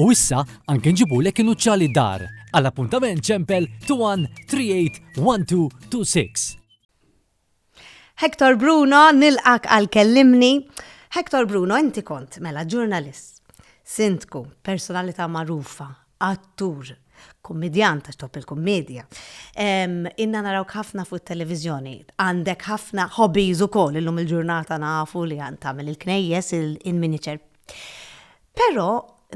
U issa anke nġibulek inuċċali dar. Għal appuntament ċempel 213826. Hector Bruno, nilqak għal kellimni. Hector Bruno, inti kont mela ġurnalist, sindku, personalità magħrufa, attur, kummedjan ta' top il-kummedja. Inna naraw ħafna fuq televizjoni għandek ħafna hobbies ukoll illum il-ġurnata nafu li għan tagħmel il-knejjes, il-miniature Però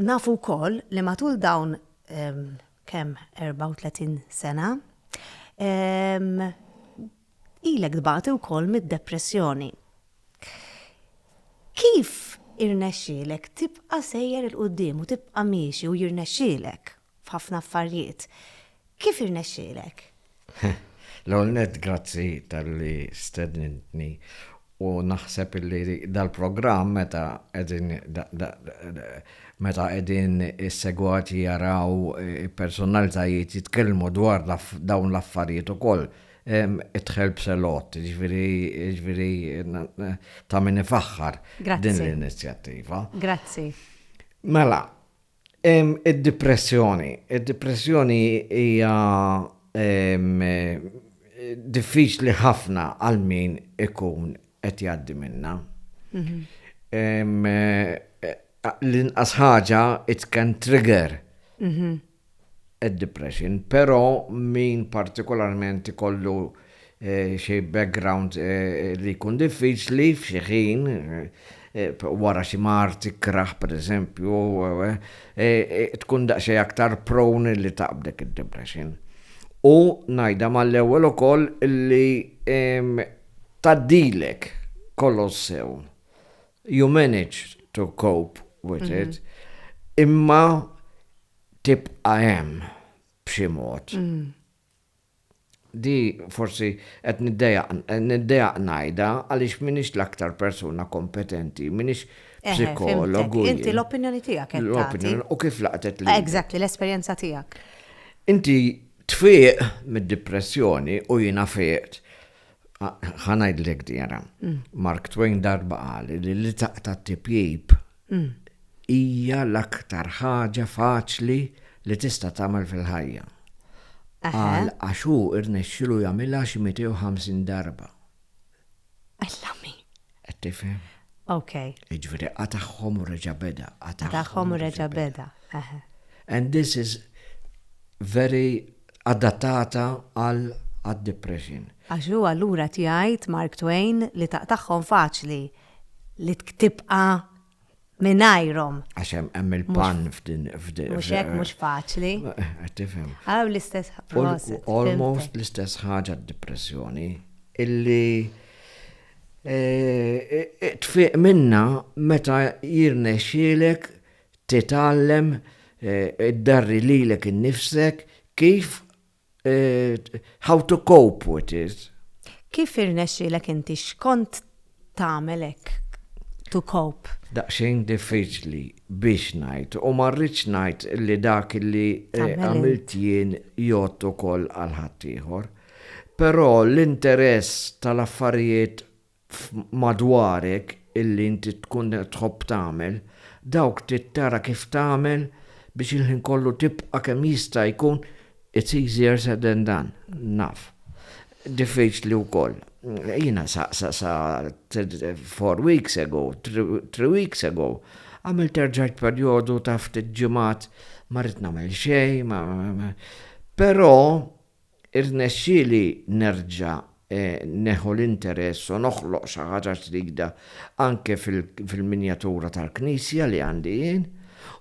nafu wkoll li matul dawn ehm, kemm 34 sena ehm, ilek dbati wkoll mid-depressjoni. Kif irnexxielek tibqa' sejjer il-qudiem u tibqa' miexi u jirnexxielek? f'ħafna affarijiet. Kif irnexxielek? L-ewwel nett grazzi talli stednintni u naħseb li dal-programm meta qegħdin meta qegħdin is-segwati jaraw eh, personalitajiet jitkellmu dwar dawn l-affarijiet ukoll itħel b'selot, ġviri ta' min ifaħħar din l-inizjattiva. Grazzi. Mela, Id-dipressjoni. Id-dipressjoni hija diffiċli ħafna għal min ikun qed jgħaddi minna. Mhm. L-inqas ħaġa it can trigger mhm. id-depression, però min partikolarment ikollu xi background li jkun diffiċli f'xi ħin, wara xi mard tikkrah pereżempju, tkun daqsxejn aktar prone li taqbdek id-depression. U ngħidha mal-ewwel ukoll li tgħaddilek kollox sew. You manage to cope with it, imma tibqa' hemm b'xi mod. Di forsi qed niddejjaq ngħidha għaliex m'iniex l-aktar persuna kompetenti, m'iniex psikologu. Eħe, fimtek. Inti l-opinjoni tiegħek qed tagħti. U kif laqtet lilek? Exactly, l-esperjenza tiegħek. Inti tfieq mid-dipressjoni u jiena fiqt. Ħa ngħidlek di ara. Mark Twain darba qal li li taqta' t-tipjip hija l-aktar ħaġa faċli li tista' tagħmel fil-ħajja. Qal għax hu rnexxielu jagħmilha xi 250 darba. Alla mi! Qed tifhem? Ok. Jiġifieri qatagħhom u reġa' beda. Qatagħhom u reġa' beda. And this is very adattata għal għad-depression. Għax hu allura tgħid Mark Twain li taqtagħhom faċli. li tibqa' mingħajrhom. Għax hemm il-pan f'din f'din. Mhux hekk mhux faċli. Tifhem. Għaw l-istess ħaġa. Almost l-istess ħaġa d-depressjoni illi e, e, e, tfiq minna meta jirnexxielek titgħallem id-darri lilek innifsek kif how to cope with it. Kif irnexxielek inti x'kont tagħmel hekk to cope? Daqsxejn diffiċli biex ngħid u ma rridx ngħid li dak li eh, għamilt jien jgħod ukoll għal ħaddieħor. Però l-interess tal-affarijiet f'madwarek illi inti tkun qed tħobb tagħmel, dawk trid tara kif tagħmel biex il-ħin kollu tibqa' kemm jista' jkun it's easier said than done, naf. Diffiċli wkoll. Jiena sa sa sa four weeks ago, three weeks ago, għamilt erġajt perjodu ta' ftit ġimgħat ma rrid nagħmel xejn, ma, ma, ma, ma. Però Irnexxieli nerġa' neħu l-interess u noħloq xi ħaġa ġdida anke fil-minjatura tal-knisja li għandi jien,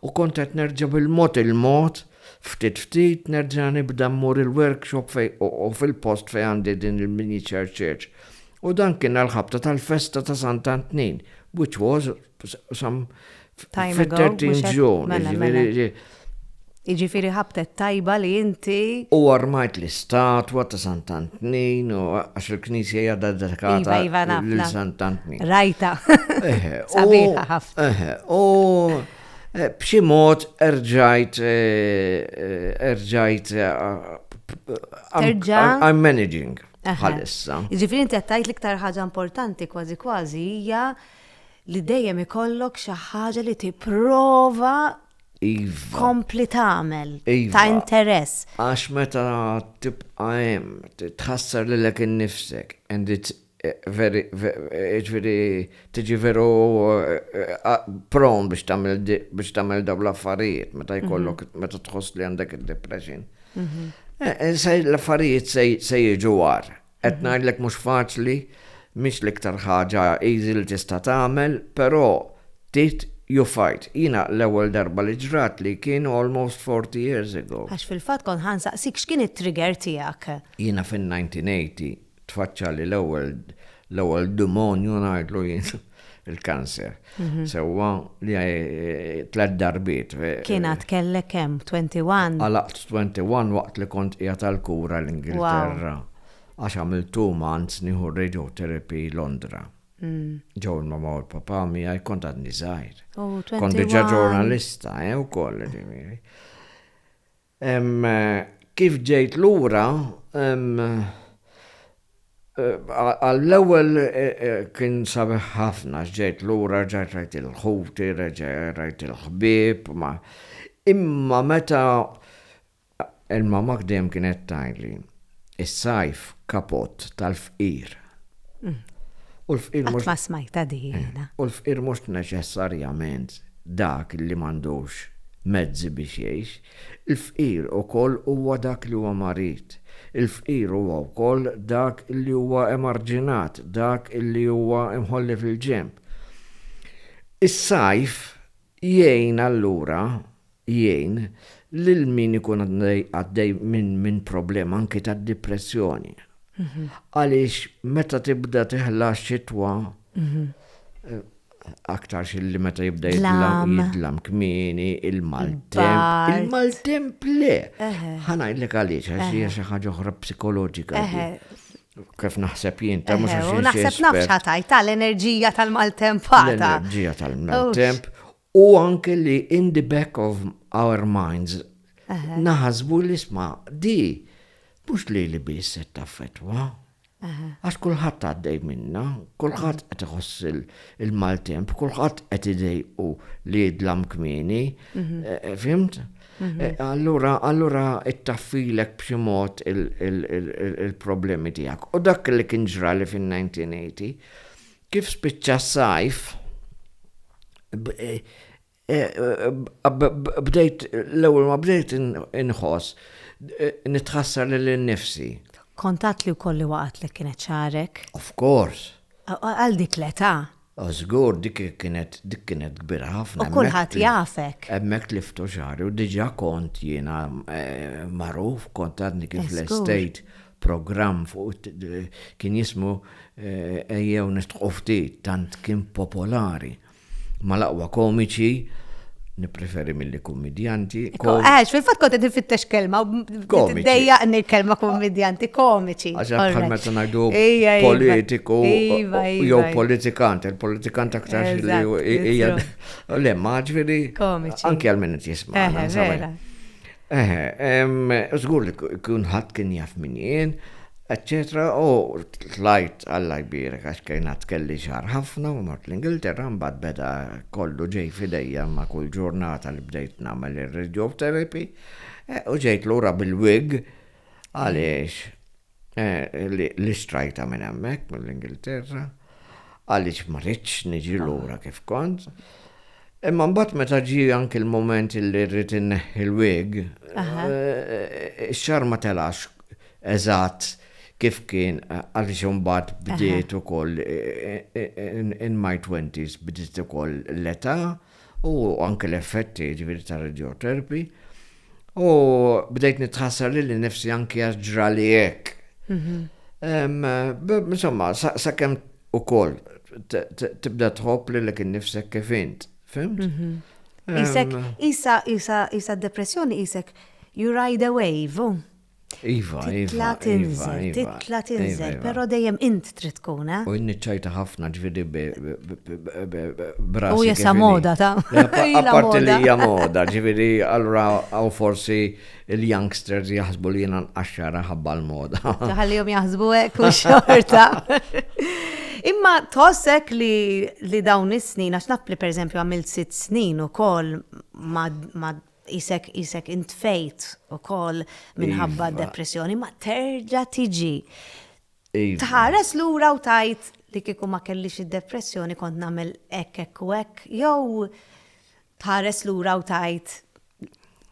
u kont qed nerġa' bil-mod il-mod, ftit ftit, nerġa' nibda mmur il-workshop u fil-post fejn għandi din il-miniature church. U dan kien għall-ħabta tal-festa ta' Sant Antnin, which was some fit-30 ġun. Mela, mela. Iġifiri ħabtet tajba li inti. U armajt l-istatwa ta' Sant'Antnin, u għax il-knisja jadda dedikata iva, iva, l Sant'Antnin. Rajta. Sabiħa ħafna. U eh, b'xi mod erġajt eh, eh, erġajt I'm managing bħalissa. Ġifiri inti għattajt l-iktar ħaġa importanti kważi kważi hija li dejjem ikollok xi ħaġa li tipprova iva. tkompli tagħmel iva. ta' interess. Għax meta tibqa' hemm, tħassar lilek innifsek and it's eh, very, eh, ġifieri tiġi veru eh, pron biex tagħmel biex tagħmel dawn l-affarijiet meta mhm. jkollok meta tħoss li għandek id-depression. Mhm. L-affarijiet se jiġu war, Qed ngħidlek mhux faċli, mhix l-iktar ħaġa easy li tista' tagħmel, però tit you fight. Jiena l-ewwel darba li ġratli kien almost forty years ago. Għax fil-fatt kont ħa nsaqsik x'kien it-trigger tiegħek. Jiena fin-1980 tfaċċali l-ewwel l-ewwel demonju ngħidlu jien. il-kanser. Mhm. Sewwa li eh, tlet darbiet. Eh, Kien għad kellek kemm 21? Għalaqt 21 waqt li kont qiegħed tal-kura l-Ingilterra. Għax għamil two months nieħu radiotherapy Londra. Mm. Ġew ma ma l-papa miegħi kont għadni żgħir. Oh, kont diġà ġurnalista, eh, ukoll. Ehm, kif ġejt lura, ehm, għall-ewwel kien sabiħ ħafna għax ġejt lura, rġajt rajt il-ħuti, rġajt rajt il-ħbieb, ma. Imma meta il-mammak dejjem kienet tgħidli, Is-sajf kapott tal-fqir. Mm. U l-fqir mhux. Ma smajta diħina. Eh, u l-fqir mhux neċessarjament dak li m'għandux mezzi biex jgħix. Il-fqir ukoll huwa dak li huwa marid. Il-fqir huwa wkoll dak li huwa emarġinat, dak li huwa imħolli fil-ġemp. Is-sajf jgħin allura jgħin lil min ikun għaddej minn problema anki ta' dipressjoni. Għaliex meta tibda teħla xitwa, aktar xilli meta jibda jidlam kmini, il-maltemp. Il-maltemp le. Ħanajlek għaliex, għax hija xi ħaġa oħra psikoloġika. Kif naħseb jien, ta' mhux għax. Naħseb nafx ħatajt tal-enerġija tal-maltemp. L-enerġija tal-maltemp U anke li in the back of our minds naħasbu li sma di mhux lili biss se taffettwa. Għax kulħadd għaddej minnha, kulħadd qed iħoss il-maltemp, kulħadd qed idejqu li jidlam kmieni, mhm. eh, eh, fimt? Mhm. Eh, allura, allura ittaffilek b'xi mod il-problemi tiegħek. U dak li kien ġrali fin-1980, Kif spiċċa s-sajf, bdejt, l-ewwel ma bdejt inħoss, nitħassar lil innifsi. Kont għadt li wkoll li waqgħatlek kienet xagħarek? Of course. Għal dik l-età? Żgur, dik kienet dik kienet kbira ħafna. U kulħadd jafek. Hemmhekk tliftu xagħri u diġà kont jiena magħruf, kont għadni kif l-estate programm fuq kien jismu eh, ejjew nistħu ftit tant kien popolari mal-aqwa komiċi nipreferi mill-li kummedjanti. Għax, fil-fat kont għed fittex kelma, dejja għanni kelma kummedjanti, komiċi. Għax, bħal meta najdu politiku, jew politikant, il-politikant aktar li hija. Le, maġveri, anki għal-minnet jisma. Eħe, żgur li kulħadd kien jaf min jien, eċċetera u tlajt Alla jbierek għax kien għad kelli xahar ħafna u mort l-Ingilterra mbagħad beda kollu ġej f'idejja ma' kull ġurnata li bdejt nagħmel ir-radiotherapy u ġejt lura bil-wig għaliex Li strajta minn hemmhekk mill-Ingilterra, għaliex ma rridx niġi lura kif kont. Imma mbagħad meta ġi anki l-moment li rrid inneħħi l-wig, ix-xar ma telax eżatt kif kien għaliex imbagħad bdiet ukoll in my twenties bdiet ukoll l-età. u anke l-effetti jiġifieri tar-radioterpi u bdejt nitħassar lili nnifsi anke għax ġrali hekk. Mhm. Insomma, sakemm ukoll tibda tħobb lilek innifsek kif int, fimt? Mhm. Isek, isa, isa, isa depressjoni isek, you ride a wave. Iva, iva. Titla tinżel, titla tinżel, pero dejjem int trid tkun, eh? U nniċċajta ħafna ġvidi brasi. U jessa moda ta' Apparti li hija moda, ġvidi, allura għaw forsi il-youngsters jaħsbu li jena nqaxxara ħabba l-moda. Taħallihom jaħsbu hekk u xorta. Imma tossek li, li dawn is-snin, għax naf li per eżempju għamilt sitt snin u kol ma, ma Qisek qisek intfejt ukoll minħabba Iva. depressjoni ma terġa' tiġi. Iva. Tħares lura u tajt li kieku ma kellix id-depressjoni kont nagħmel hekk hekk u hekk jew tħares lura u tajt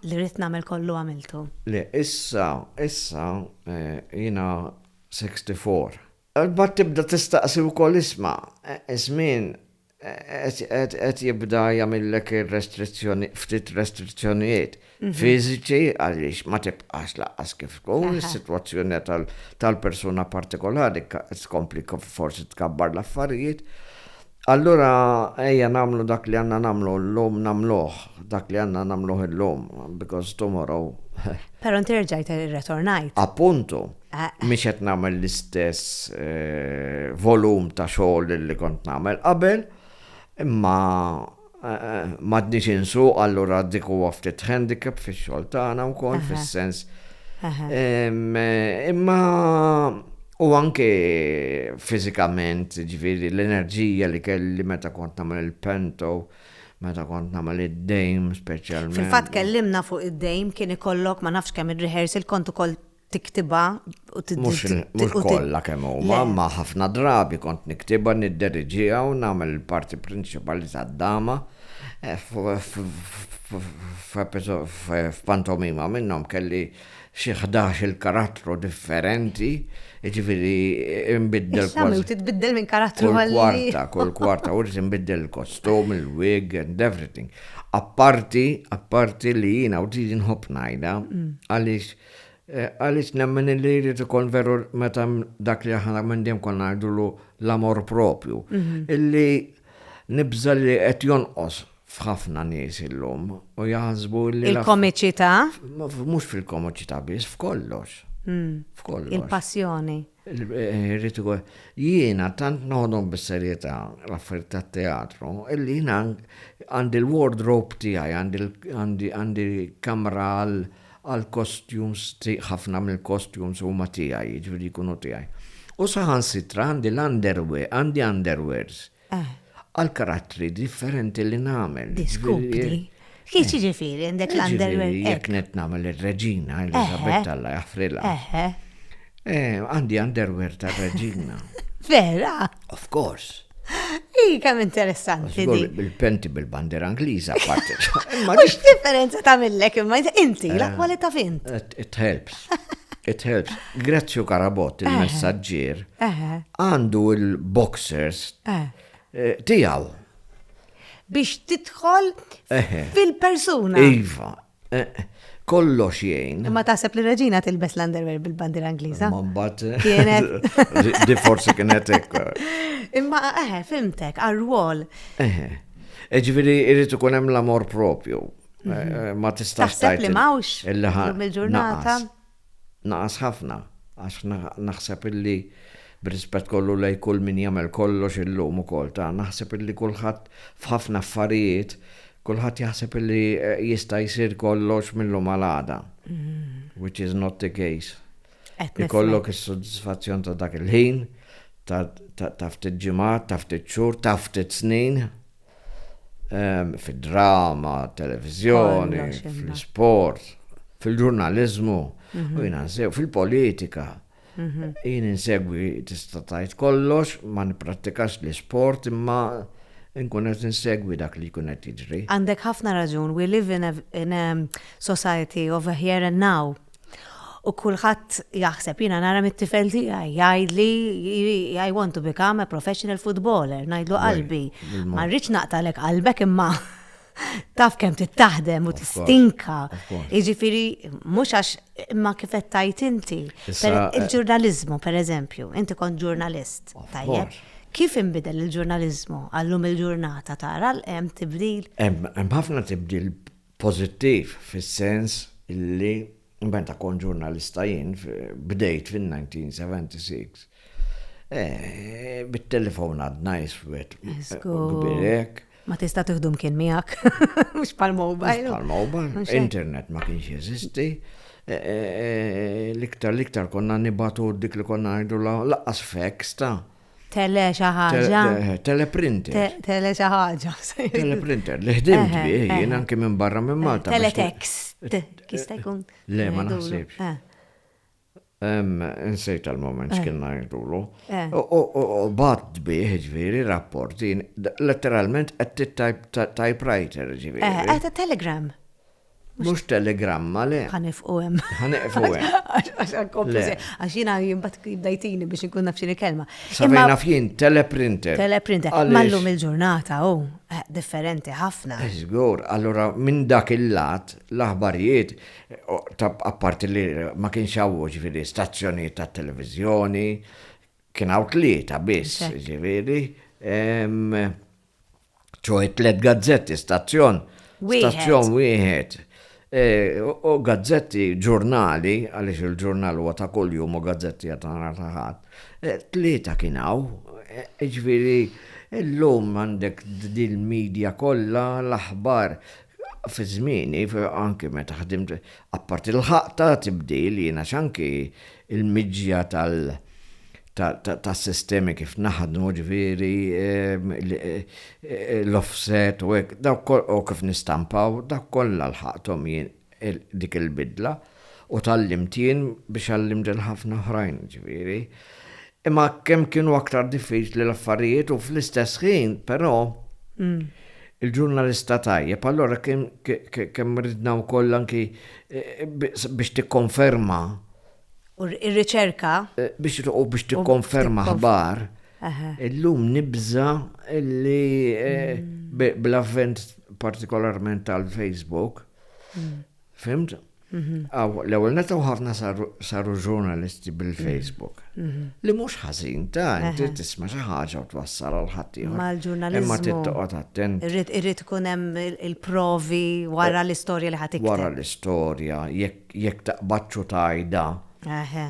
li rrid nagħmel kollu għamiltu. Le, issa, issa, eh, jina 64. Bat tibda tistaqsi wkoll isma, eh, żmien qed jibda jagħmillek ir-restrizzjoni, ftit restrizzjonijiet fiżiċi għaliex ma tibqax lanqas kif tkun, is-sitwazzjoni tal-persuna partikolari tkompli forsi tkabbar l-affarijiet. Allura ejja nagħmlu dak li għandna nagħmlu llum nagħmluh, dak li għandna nagħmluh illum, because tomorrow. Però inti rġajt irretornajt. Appuntu. mhix qed nagħmel l-istess eh, volum ta' xogħol li kont nagħmel qabel, imma eh, m'għadniex insu allura dik huwa ftit handicap fix-xogħol tagħna wkoll fis-sens. Eh, imma u anke fiżikament, ġifieri l-enerġija li kelli meta kont nagħmel il-pento, meta kont nagħmel id-dejm speċjalment. Fil-fatt kellimna fuq id-dejm kien ikollok ma nafx kemm ir-rehearsal kont ukoll tiktibha u Mhux kollha kemm huma, ma ħafna drabi kont niktibha nidderiġiha u nagħmel il-parti prinċipali tad-dama f'pantomima minnhom kelli xi ħdax-il karattru differenti, jiġifieri nbiddel kważi. U titbiddel minn karattru għal ieħor. Kull kwarta, kull kwarta, u rrid inbiddel il-kostum, il-wig and everything. Apparti, apparti li jiena u din inħobb ngħidha għaliex Għaliex nemmen illi jrid ikun veru meta hemm dak li aħna minn dejjem konna ngħidulu l-amor propju, illi nibża' li qed jonqos f'ħafna nies illum u jaħsbu li. Il-komiċità? Mhux fil-komiċità biss, f'kollox. F'kollox. Il-passjoni. Irrid ikun. Jiena tant noħodhom bis-serjetà l-affarijiet tat-teatru illi jiena għandi l-wardrobe tiegħi, għandi għandi kamra għall-costumes, ħafna mill-costumes huma tiegħi, jiġifieri jkunu tiegħi. U saħansitra għandi l-underwear, għandi underwears. għall-karattri differenti li nagħmel. Diskupri. Kif jiġifieri għandek l-underwear? Jiġifieri jekk qed nagħmel ir-Reġina Eliżabetta Alla jaħfrilha. Għandi underwear tar-Reġina. Vera? Of course. Hi kemm interessanti. Bil-penti bil-bandiera Ingliża apparti. Mhux differenza tagħmillek imma inti l-akwalità fint. It helps. It helps. Grezio Carabott, il-messaġġier, għandu il-boxers eh, tiegħu. Biex tidħol fil-persuna. Iva, eh, kollox jgħin. Ma taħseb li reġina tilbes l-underwear bil-bandira Ingliża? Ma mbagħad eh, kienet. Di forsi kienet hekk. Imma eħe, fimtek, għar-rwol. Eħe. Eġviri, irrid ikun hemm l-amor propju. Mhm. Ma tistax. Taħseb li mawx. Il-ġurnata. naqas ħafna għax naħseb illi b'rispett kollu lejn kull min jagħmel kollox illum ukoll ta' naħseb illi kulħadd f'ħafna affarijiet kulħadd jaħseb illi jista' jsir kollox millum għal għada. Which is not the case. Ikollok is-soddisfazzjon ta' dak il-ħin, ta' ftit ġimgħat, ta' ftit xhur, ta' ftit snin. fid-drama, televizjoni, fl-sport, fil-ġurnalizmu, mhm. u jina nsew fil-politika. Mhm. Jien insegwi tista' tajt kollox, ma nipprattikax l-sport imma nkun qed insegwi dak li jkun qed jiġri. Għandek ħafna raġun, we live in a, in a society of a here and now. U kulħadd jaħseb, jiena nara mit-tifel tiegħi jgħidli I want to become a professional footballer, ngħidlu qalbi. Ma rridx naqtalek qalbek imma taf kemm tittaħdem u tistinka. Jiġifieri mhux għax imma kif qed tajt inti. Il-ġurnaliżmu pereżempju, inti kont ġurnalist. Tajjeb. Kif inbidel il-ġurnaliżmu għallum il-ġurnata tara hemm tibdil? Hemm ħafna tibdil Pożittiv fis-sens li meta kont ġurnalista jien, bdejt fin-1976, bit-telefon għadna iswed kbir hekk. Ma tista' tieħdu mkien miegħek, mhux bħall-mobile. Bħall-mobile, internet ma kienx jeżisti. L-iktar l-iktar konna nibatu dik li konna ngħidulha laqqas feks ta'. Tele xi ħaġa. Teleprinter. Tele xi ħaġa. Teleprinter, li ħdimt eh, bih eh, jien eh. anke minn barra minn Malta. Teletext. Kista jkun. Le ma naħsibx. Insejt għal-moment x'kien ngħidulu. U bat bih ġviri rapporti, letteralment qed typewriter ġviri. Għata telegram. Mhux telegramma, le. Ħanifqu hemm. Ħanifqu hemm. Għax għankompli se. Għax jiena jimbat bdajtini biex nkun naf xini kelma. Sabina naf jien, teleprinter. Teleprinter. Mallum il-ġurnata, u, eh, differenti ħafna. Zgur, eh, allura minn dak il-lat, l-aħbarijiet, ta' apparti li ma kienx għawu ġviri stazzjoni ta' televizjoni, kien għaw tlieta biss, ġviri, ċoħe tlet gazzetti, stazzjon, stazzjon wieħed, e, u gazzetti ġurnali, għaliex il-ġurnal huwa ta' kuljum u gazzetti ta' nhar ta' ħadd. E, tlieta kien hawn, e, ġifieri illum għandek din media kollha l-aħbar fi żmieni, anki meta ħdimt, apparti l-ħaqta tibdil, jiena xanki il-miġja tal- ta' sistemi kif naħdmu ġviri, l-offset u hekk, u kif nistampaw, dak kollha l-ħaqtom jien dik il-bidla u tal-limt jien biex għallimt il-ħafna oħrajn ġviri. Imma kemm kienu aktar diffiċli l-affarijiet u fl-istess ħin, però, mm. il-ġurnalista tajjeb, allora kemm ridna wkoll anki eh, biex tikkonferma u r-riċerka. Biex u biex tikkonferma ħbar, illum nibża li bl-avvent partikolarment tal-Facebook, fimt? Għaw, l-ewel netaw ħafna saru ġurnalisti bil-Facebook. Li mux ħazin, ta' inti tisma xi ħaġa u twassal għal ħaddieħor. Mal-ġurnalizmu. Imma tittoqgħod attent. Irrid ikun hemm il-provi wara l-istorja li ħadd Wara l-istorja, jekk Jekk taqbadx u tgħidha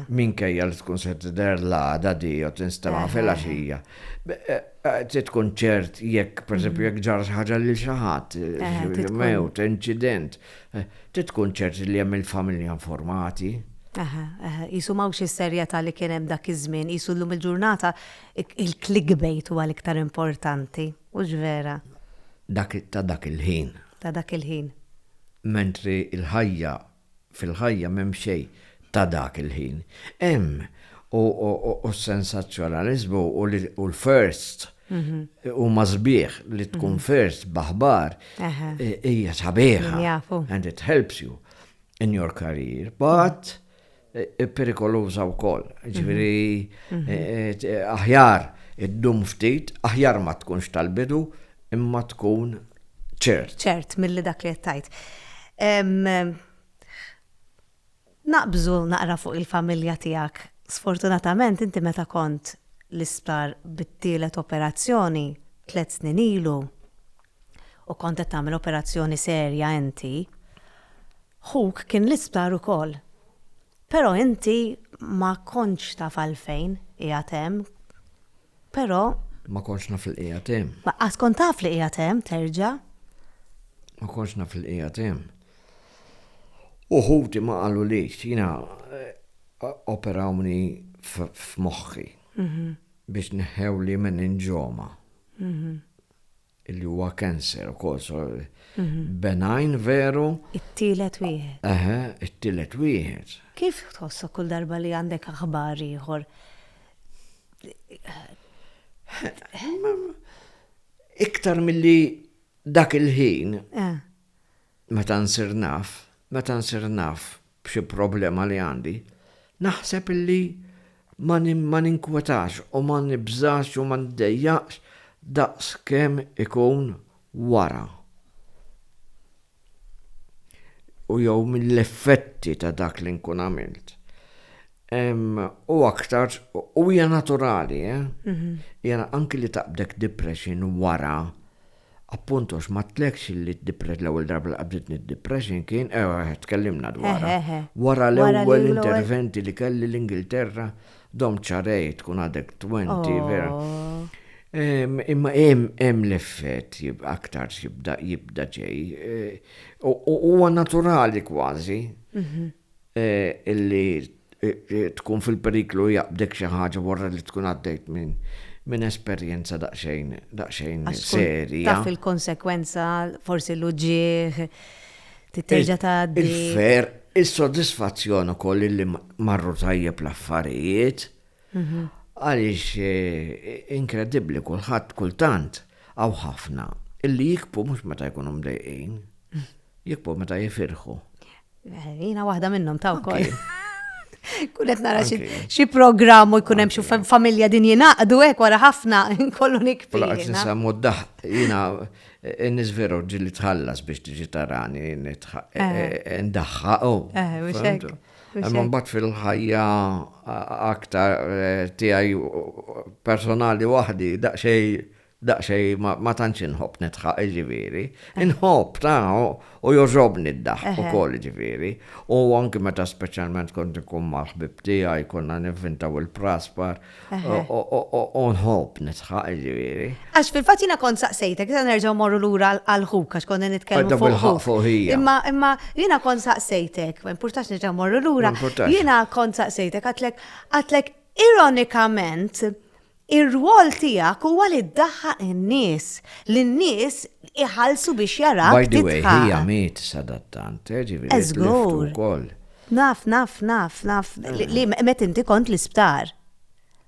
minkejja li tkun se tidher l-għada di jew tinstema' filgħaxija, trid tkun ċert jekk, pereżempju, jekk ġara xi ħaġa lil xi ħadd, mewt, inċident, trid tkun ċert li hemm il-familja informati. Aha, aha. Qisu m'hawnx is-serjetà li kien hemm dak iż-żmien, qisu llum il-ġurnata il-clickbait huwa l-iktar importanti. Hux vera. Dak ta' dak il-ħin. Ta' dak il-ħin. Mentri l-ħajja, fil-ħajja m'hemm xejn ta' dak il-ħin. Hemm, u s-sensazzjonaliżmu u l-first huma sbieħ, li tkun first b'aħbar hija sabiħa. Min jafu. And it helps you in your career. But perikoluża wkoll. Ġifieri mhm. eh, eh, aħjar iddum ftit, aħjar ma tkunx tal-bidu, imma tkun ċert. ċert, mill-li dak li jettajt. Naqbżu naqra fuq il-familja tijak. Sfortunatament, inti meta kont l-isptar bit-tielet operazzjoni tlet snin ilu u kont qed tagħmel operazzjoni serja inti, Ħuk kien l-isptar ukoll. Però inti ma kontx taf għalfejn qiegħed hemm. Però. Ma kontx naf li qiegħed hemm. Laqqas kont taf li qiegħed hemm, terġa'. Ma kontx naf li qiegħed hemm. U ħuti ma qalulix, jiena operawni f'moħħi biex neħħewli meninġoma. Li huwa cancer ukoll, so benign veru. It-tielet wieħed. Eħe, it-tielet wieħed. Kif tħossok kull darba li għandek aħbar ieħor? Iktar milli dak il-ħin, meta nsir naf, meta nsir naf b'xi problema li għandi, naħseb illi ma ninkwetax u ma nibżax u ma ndejjaqx daqs kemm ikun wara u jew mill-effetti ta' dak li nkun għamilt. U aktar, u hija naturali, eh? Mhm. Hija anki li taqbdek depression wara Appunt għax ma tlekx li d-depression, l-ewwel darba li qabditni d-depression kien, ewa eħe tkellimna dwarha, wara l-ewwel interventi li kelli l-Ingilterra, domt xahrejn tkun għadek twenti, vera. Imma hemm l-effett aktar jibda jibda ġej. Huwa naturali kważi. illi tkun fil-periklu jaqbdek xi ħaġa wara li tkun għaddejt minn esperjenza daqsxejn serja. Taf il-konsekwenza, forsi l-uġigħ, trid terġa' tgħaddi. Il-ferħ, is-sodisfazzjon ukoll illi marru tajjeb l-affarijiet. Għaliex inkredibbli kulħadd kultant hawn ħafna illi jikbu mhux meta jkunu mdejqin, jikbu meta jifirħu. Eh, jina waħda minnhom ta' wkoll. Kunet nara xi programm u jkun hemm xi familja din jingħaqdu hekk wara ħafna kollu nikbi. Laqgħet nisemmu d-daħ jiena eh, n-nies veru ġili tħallas biex tiġi tarani eh. ndaħħa u. Imma mbagħad fil-ħajja aktar tiegħi personali waħdi daqsxejn Daqsxejn ma tantx inħobb nidħaq jiġifieri. Inħobb tara u jogħġobni d-daħk ukoll jiġifieri. U anki meta speċjalment kont inkun mal-ħbieb tiegħi konna nivvintaw il-praspar u nħobb nidħaq jiġifieri. Għax fil-fatt jiena kont saqsejtek, issa nerġgħu mmorru lura għal ħuk għax konna nitkellmu fuq ħuk. Imma jiena kont saqsejtek, ma jimpurtax nerġgħu mmorru lura, jiena kont saqsejtek għidlek ironikament Ir-rwol tiegħek huwa li ddaħħaq in-nies, li n-nies iħallsu biex jarak tidħaq. By the way, hi għamiet sadattant, eh, ġifieri tliftu wkoll. Naf, naf, naf, naf, li met inti kont l-isptar.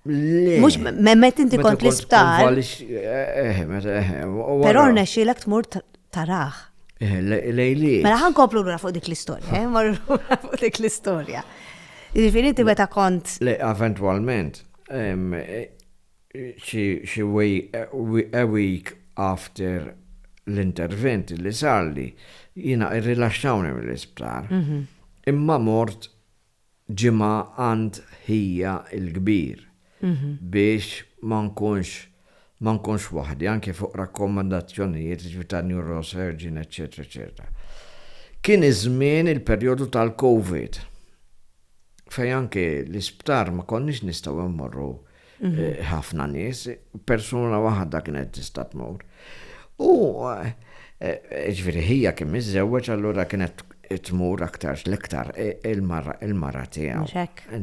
Le. Mux, met inti kont l-isptar. Pero rnexxilek tmur taraħ. Lejli. Mela ħan koplu l fuq dik l-istoria, marru fuq dik l-istoria. Ġifiri inti meta kont. Le, eventualment. a week after l-intervent li sarli, jiena irrilaxxawni mill-isptar. Imma mort ġimgħa għand ħija l-kbir biex ma nkunx ma nkunx waħdi anke fuq rakkomandazzjonijiet jiġifieri ta' neurosurgeon eċċetera eċċetera. Kien iż-żmien il-perjodu tal-Covid fejn anke l-isptar ma konniex nistgħu mmorru mhm. eh, ħafna nies, persuna waħda kienet tista' tmur. U eh, eh, ġifieri ħija kien miżewweġ allura kienet tmur aktar l-iktar il-mara tiegħu.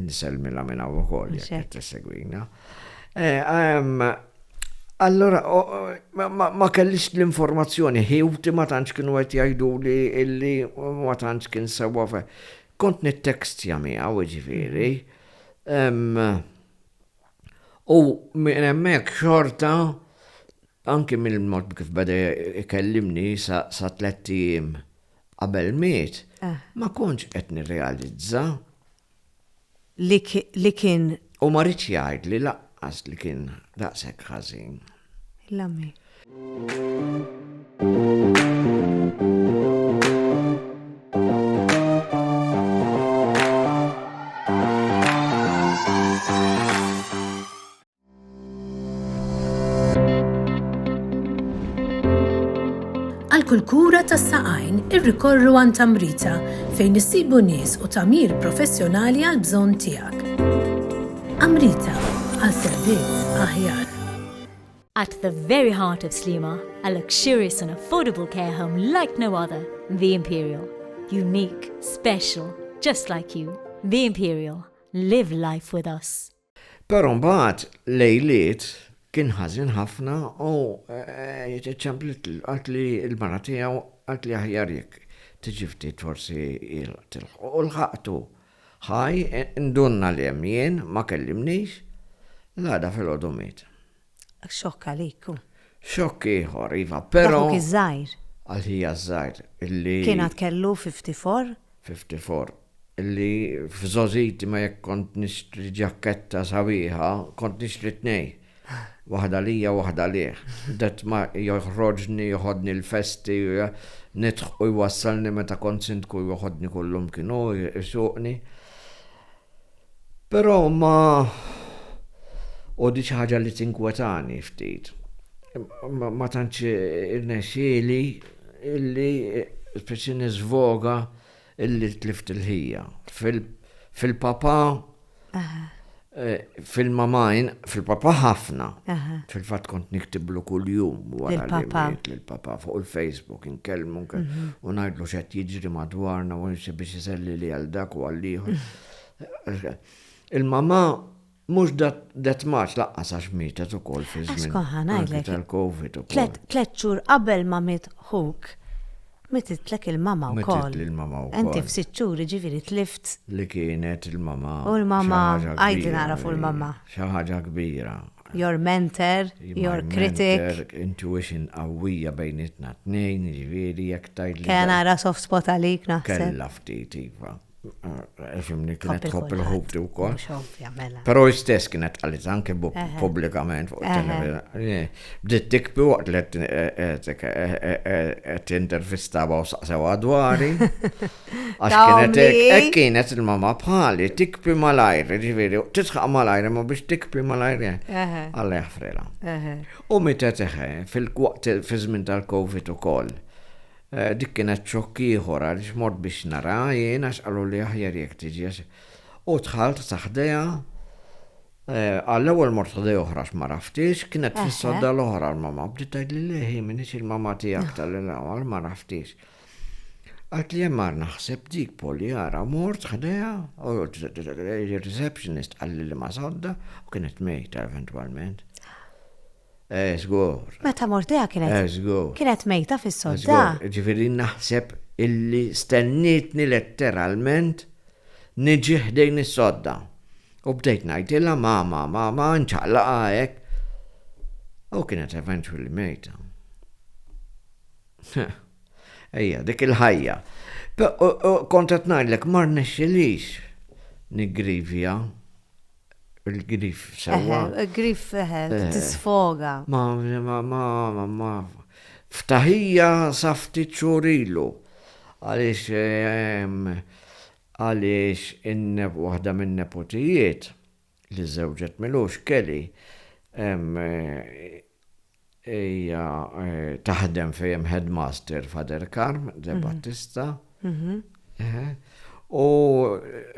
Niselmilha minn hawn ukoll jekk tissegwina. Eh, Allora, ma kellix l-informazzjoni, ħiwti ma tantx kienu qed jgħidu li illi ma tantx kien sewwa fe. Kont nittekstja miegħu ġifieri. U minn hemmhekk xorta anki mill-mod kif beda jkellimni sa tliet ijiem qabel miet, ah. ma kontx qed nirrealizza li kien. U ma riedx jgħidli lanqas li kien daqshekk ħażin. Għal kull kura tas-saqajn irrikorru għan tamrita fejn issibu nies u tamir professjonali għal bżonn tiegħek. Amrita għal servizz aħjar. At the very heart of Slima, a luxurious and affordable care home like no other, The Imperial. Unique, special, just like you. The Imperial. Live life with us. Però mbagħad lejliet kien ħażin ħafna u ċċempliet qalt li l-mara tiegħu qalt li aħjar jekk tiġi ftit forsi tilħqu. U lħaqtu ħaj, indunna li hemm jien, ma kellimnix, l-għada filgħodu miet. Xokk għalik hu. Xokk ieħor, iva, però. Dak ħuk iż-żgħir. Għal ħija ż-żgħir illi. Kien għad kellu fifty-four? Fifty-four. Illi f'żgħożiti ma jekk kont nixtri ġakketta sabiħa, kont nixtri tnejn. Waħda lija u waħda għalih. Detmar joħroġni, joħodni l-festi, nidħ u jwassalni meta kont sindku joħodni kull imkien hu, isuqni. Però ma u di xi ħaġa li tinkwetani ftit. Ma tantx irnexxieli illi speċi nisvoga illi tlift il-ħija. Fil-papa eh, fil-mamajn, fil-papa ħafna. Fil-fatt kont niktiblu kuljum wara li papa fuq il-Facebook. Inkellmu, u ngħidlu x'qed jiġri madwarna u insi biex iselli li għal dak u għal ieħor. Il-mamà mhux dat maċ laqqas għax mietet ukoll fi żmien. Skoħħa ngħidlek. Tal-COVID ukoll. Tlet xhur qabel ma miet ħuk, mititlek il-mamà wkoll. Mitit il-mamà wkoll. Inti f'sitt xhur ġifieri tlift. Li kienet il-mamà. U l-mamà għajdi nagħraf u l-mamà. Xi ħaġa kbira, Your mentor, your critic. My mentor, intuition qawwija bejnietna t-tnejn, jiġifieri jekk tgħidli. Kellha nara soft spot għalik naħseb. Kellha ftit iva. Fimni kienet tħobb il-ħobti wkoll. Mela. Però istess kienet qalit anke pubblikament fuq it-televizjoni. Bdiet tikbi waqt li qed intervistaba u saqsew dwari. Għax Ta' kienet hekk, ommi. hekk kienet il-mama bħali, tikpi malajr, ġifieri, tisħaq malajr imma biex tikpi malajr eh, Eħe, Alla jaħfrilha. eħe. U mietet eħe, fil-waqt fiż-żmien tal-Covid ukoll. Eh, Dik kienet xokk ieħor għaliex mort biex nara jien għax qalu li aħjar jekk tiġi. għax- U dħalt ta' ħdejha, eh, għall-ewwel mort ħdej oħra x'ma raftix, kienet Eħe. fis-sodda l-oħra l-mama. Bdiet tgħidli li hi minix il-mama tiegħek tal-ewwel ma raftix. Għad li hemm mar naħseb dik Polly ara mort ħdejha u r-receptionist qalli li ma sodda u kienet mejta eventwalment. Eh, żgur. Meta mort ħdejha kienet. Eh, żgur. Kienet mejta fis-sodda. Ġifieri naħseb illi stennietni letteralment niġi ħdejn is-sodda. U bdejt ngħidilha mama, mama, nċaqlaqa hekk. U kienet eventwalment mejta. Ejja, dik il-ħajja. Kont qed ngħidlek ma rnexxilix niggrivja il-grif sewwa. Il-grif eh, tisfoga. Ma ma ma ma ftaħija sa ftit xurilu. Għaliex ehm, għaliex in-neb waħda minn nepotijiet li żżewġet Milosh, Kelly, hija taħdem fejn hemm headmaster f'Aderkarm, De Battista, u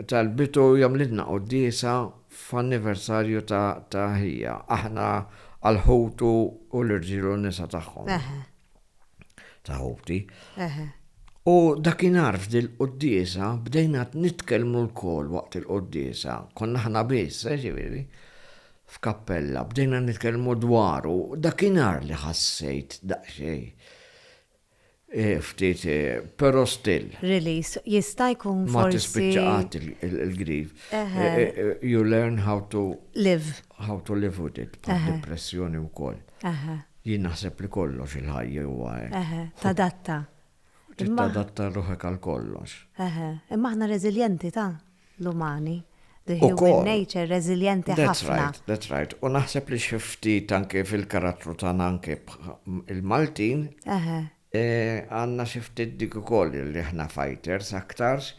talbitu jagħmlilna quddiesa f'anniversarju ta' ħija, aħna għall-ħutu u l-irġiel u n-nisa tagħhom. ta' ħuti. U dakinhar f'dil quddiesa bdejna nitkellmu lkoll waqt il-quddiesa, konna aħna biss, eh, ġifieri, f'kappella, bdejna nitkellmu dwaru, dakinhar li ħassejt daqsxejn eh, ftit, eh, però still. Release, jista' jkun forsi. Ma tispiċċa qatt il-grief. Eh, you learn how to. Live. How to live with it, bħal depressjoni wkoll. Jien naħseb li kollox il-ħajja huwa hekk. Eħe, tadatta. Trid tadatta ruħek għal kollox. Eħe, imma aħna reżiljenti ta' l-umani. The human nature reżiljenti ħafna. That's right, that's right. U naħseb li xi ftit anke fil-karattru tagħna anke il-Maltin. Eħe. Għandna xi ftit dik ukoll li aħna fighters aktarx,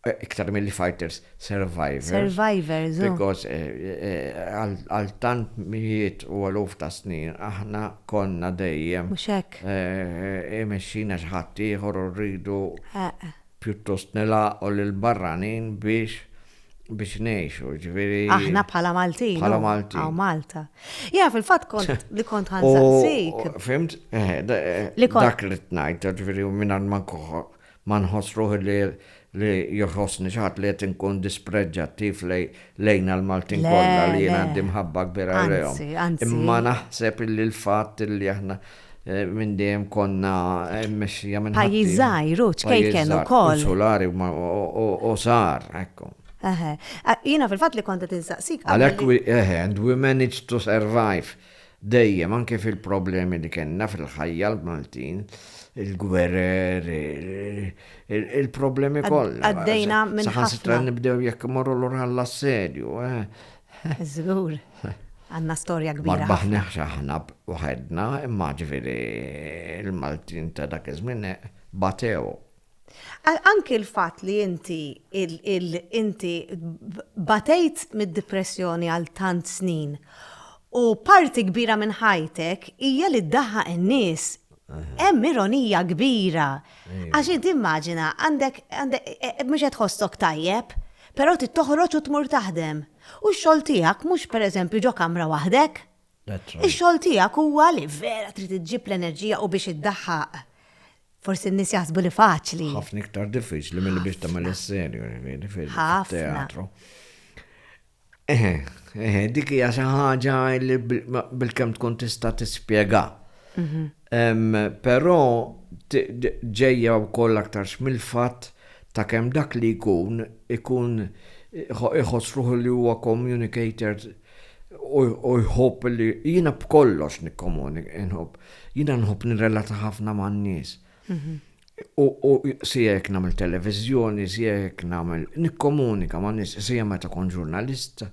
iktar milli fighters, survivors. Survivors, oh. Because għal tant mijiet u eluf ta' snin aħna konna dejjem. Mhux hekk. Imexxina xi ħaddieħor u rridu pjuttost nilgħaqu lill-barranin biex. biex nejxu, ġviri. Aħna bħala Maltin. Bħala Maltin. Għaw Malta. Ja, fil-fat kont li kont ħanżaqsik. Fimt? Eh, eh, li kont. Dak li t-najt, ġviri, minnan man kuħu, man ħosruħ li li joħosni xaħat li jett nkun dispreġġattiv lejna l-Maltin kolla li jena għaddim ħabba kbira l-jom. Imma naħseb li l-fat li aħna Minn dejjem konna mmexxija minn ħaddieħor. Pajjiż żgħir u ċkejken ukoll. Pajjiż żgħir, insulari u żgħar, hekk. Eħe. Jiena fil-fatt li kont qed insaqsik. Għalhekk, eħe, and we managed to survive dejjem anke fil-problemi li kellna fil-ħajja l-Maltin, il-gwerer, il-problemi kollha. Għaddejna minn ħafna. Saħansitra nibdew jekk imorru lura għall-assedju, Żgur. Għandna storja kbira. Ma rbaħniex aħna waħedna, imma ġifieri l-Maltin ta' dak iż-żmien batew. Anki l-fatt li inti inti batejt mid-dipressjoni għal tant snin u parti kbira minn ħajtek hija li ddaħħaq in-nies Hemm ironija kbira. Għax inti immaġina, għandek, mhux qed tħossok tajjeb, però trid toħroġ u tmur taħdem. U x-xogħol tiegħek mhux pereżempju ġo kamra waħdek. Ix-xogħol tiegħek huwa li vera trid iġġib l-enerġija u biex iddaħħaq. Forsi n-nies jaħsbu li faċli. Ħafna iktar diffiċli milli biex tagħmel is-serju, jiġifieri fil-teatru. Eħe, eħe, dik hija xi ħaġa li bil-kemm tkun tista' tispjega. Mhm. Però ġejja wkoll aktar mill-fatt ta' kemm dak li jkun ikun iħoss ruħu li huwa communicator u jħobb li jiena b'kollox nikkomunik, inħobb. Jiena nħobb nirrelata ħafna man-nies. Mhm. U siek namel televizjoni, siek namel nikkomunika ma' nis, siek meta kon ġurnalista,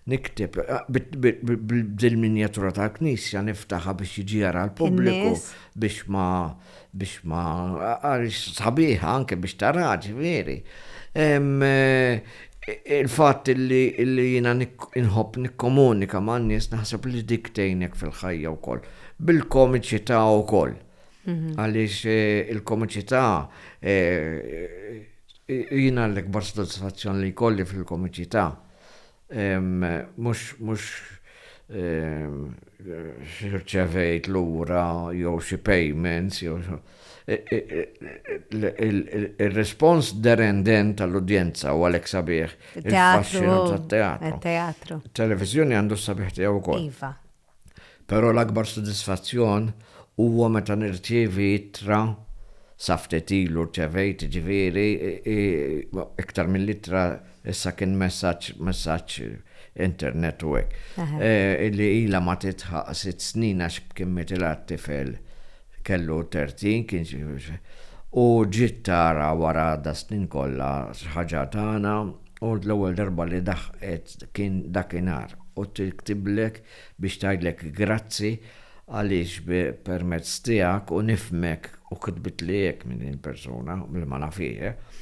niktib, bil-minjatura ta' knisja niftaħa biex jiġi jara l-pubbliku, biex ma, biex ma, għalix sabiħa anke biex taraġi, veri. Il-fat li jina nħob nikkomunika ma' nis naħseb li dik tejnek fil-ħajja u koll. Bil-komiċi ta' u koll. Għaliex eh, il-komiċità eh, jina l-ikbar soddisfazzjon li jkolli fil-komiċità. Mux, mux xirċevejt l-ura jew xi payments jew eh, il-respons derenden tal-udjenza u għalek sabiħ. Il-teatru. Il-teatru. Televizjoni għandu sabiħ tiegħu wkoll. Iva. Però l-akbar sodisfazzjon huwa meta nirċievi ittra, sa ftit ilu rċevejt jiġifieri, iktar mill-ittra issa kien messaġġ, messaġġ internet u hekk, li ilha ma tidħaq sitt snin għax kien mietilha t-tifel Kellu terzi, kien xi u ġiet tara wara das-snin kollha x'ħaġa tana u l-ewwel darba li daħqet kien dakinhar u tiktiblek biex tgħidlek grazzi għaliex permezz tiegħek u nifhmek u kitbitli hekk minn din persuna li ma nafhiex